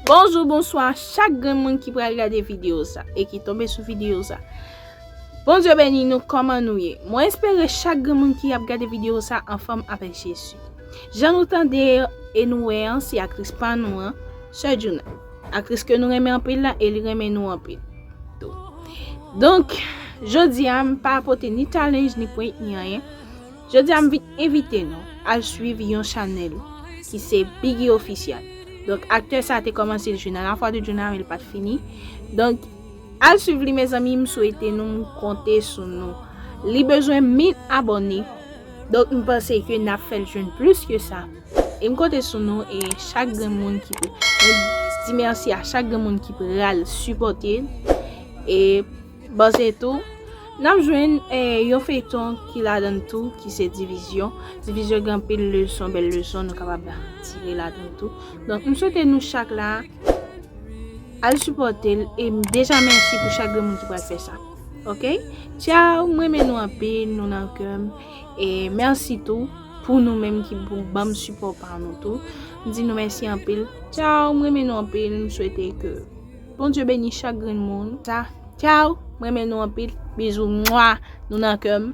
Bonjou bonswa chak grenn moun ki pral gade video sa e ki tonbe sou video sa Bondye beni nou kòman nou ye mwen espere chak grenn moun ki ap gade video sa anfòm avèk Jezi jan nou tande e nou wè an se aktris pa nou an Sè Djouna aktris ke nou renmen anpil la e li renmen nou anpil tou donk jodi a m pa pote ni challenge ni prank ni anyen Jodi a m vin envite nou al swiv yon chanèl ki se Biggy Official donk aktè sa te kòmanse jwe nan la foi de Djouna men li pat fini donk al swiv li mezanmi m swete nou m konte sou nou li bezwen 1000 abòne donk m panse ke nap fèl jwenn plis ke sa e m konte sou nou e chak grenmoun ki mwen di mèsi a chak grenmoun ki pral sipòte l e. Bon se tou Nap jwenn yon feyton ki ladann tou ki se divizyon, divizyon gen anpil leson bèl leson nou kapab tire ladann tou donk m swete nou chak la al sipòte l e m deja mèsi pou chak grenmoun ki pral fè sa ok tchao m renmen nou anpil nou nan kè m e mèsi tou pou nou menm ki pou ban m sipò pa nou tou m di nou mèsi anpil tchao m renmen nou anpil m swete ke. Bondye beni chak grenn moun sa tchao m renmen nou anpil bizou mwa nou nan kè m.